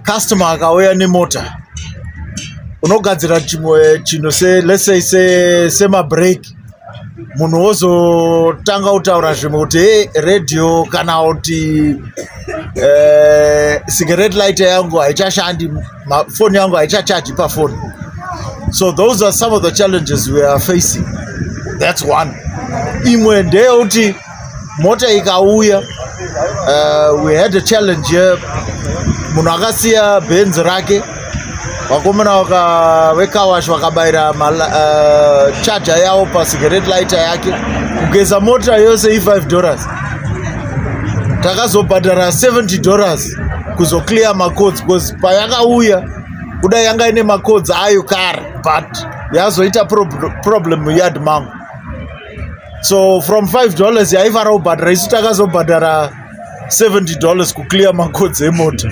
customer akauya nemota unogadzira chimwe chinhu se let's say se sema break munhu wozotanga kutaura zvimwe kuti hey, radio kana kuti eh, cigarette light yangu haichashandi foni yangu haichachaji pafoni so those are some of the challenges we are facing that's one imwe ndeyekuti mota ikauya uh, we had a challenge here munhu akasiya benzi rake vakomana vekawash vakabayira uh, charger yavo pacigarette lighter yake kugeza mota yose i5 dollars takazobhadhara 70 dollars kuzoclear macods because payakauya kuda yanga ine macods ayo kare but yazoita problem muyard mangu so from 5 dollars yaivara kubhadhara isu takazobhadhara 70 dollars kuclear makodzi emota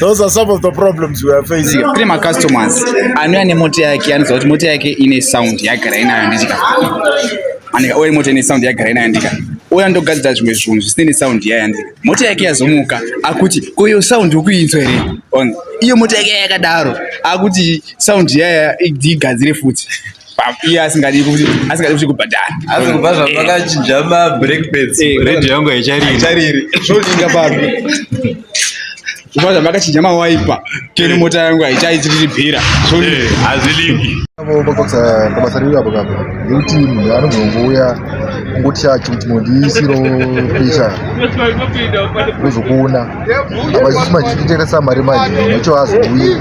those are some of the problems we are facing kune macustomers anouya nemota yake anoziva kuti mota yake ine sound yagara inayo ndika anika oya mota ine sound yagara inayo ndika oya ndogadzira zvimwe zvinhu zvisine nesound yaya ndika mota yake yazomuka akuti koyo sound ukuinzwa here iyo mota yake yakadaro akuti sound yaya igadzire futi iye asingadi asingadi kuti kubhadhara asi kubva zvavakachinja eh. mabreak pads eh, radio yangu haichariri zvodinga papi kubva zvavakachinja mawaipa kene eh. mota yangu haichaitiribhira hazvilingi pabasa riri apo kapo nekuti munhu anogongouya ngotya chikuti mondiisiro pisha uzokuona avazisi machititeresa mari manje necho azouye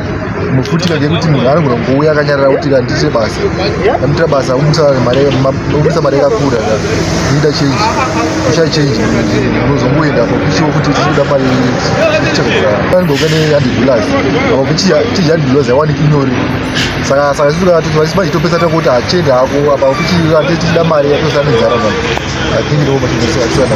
mufutika ngekuti munhu anogona kungouya akanyarara kuti kandiite basa amuitira basa umisa mari yakakura ida change usha change unozongoenda pakuchiwo kuti uchikuda mari anogokane handibulaz apa kuchii handibulaz yawaniki nyori saka saka sisi kana toti manje topesa takuti achende hako apa kuti ate tichida mari yatosana nzara manje i think ndoo matinosiya kusiyana